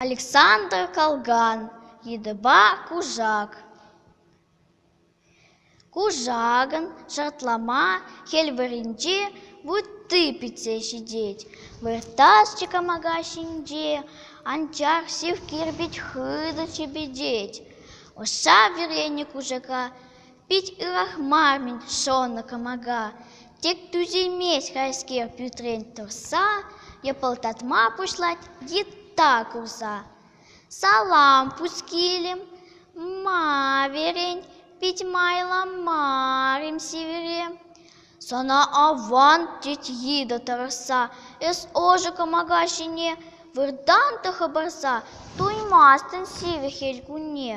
Александр Калган йытӑпа кушак. Кушакӑн шартлама хӗл варринче вутти пӗтсе ҫитет. Выртаҫҫӗ кӑмака ҫинче, анчах сив кирпӗч хытӑ чӗпӗтет. Ӑша вӗренӗ кушака Пит ырлахман шӑнӑ кӑмака, тек тӳсеймест хайскер пӳртрен тӑрса, йӑпӑлтатма пуҫлать йытта курса. Салам пускилем, ма верен, пит майланмарим сивӗрем. Сана аван, тет йытӑ тӑрӑшса, эс ӑшӑ кӑмака ҫине выртан та хӑпарса, туймастӑн сивӗ хӗл кунне.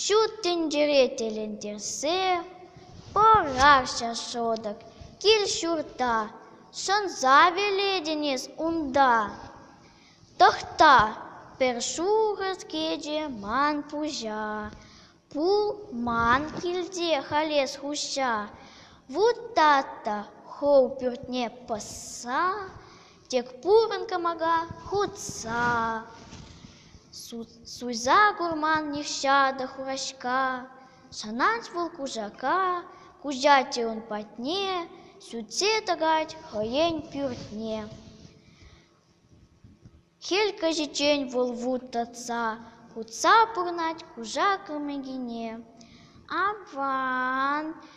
Ҫут тӗнчере тӗлӗнтерсе пӑхаҫҫӗ шӑтӑк кил-ҫурта, шӑнса вилетӗн эс унта. Тӑхта, пӗр шухӑш кӗчӗ ман пуҫа, пулман килте халь эс хуҫа. Вутат та хӑв пӳртне пӑсса Тек пурӑн кӑмака хутса, Суйса курман нихҫата хураҫка. Шӑнать вӑл кушака, Куҫать-и ун патне, Сӳтсе тӑкать хӑйен пӳртне. Хӗл каҫиччен вӑл вут татса, Хутса пурнать кушак ӑмӗкине. Аван,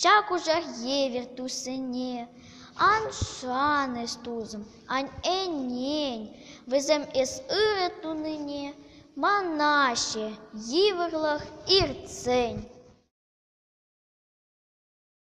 Ҫак кушак евӗр туссене ан шанӑҫ тусӑм, аннен вӗсем эс ырӑ тунине манаҫҫӗ йывӑрлӑх иртсен.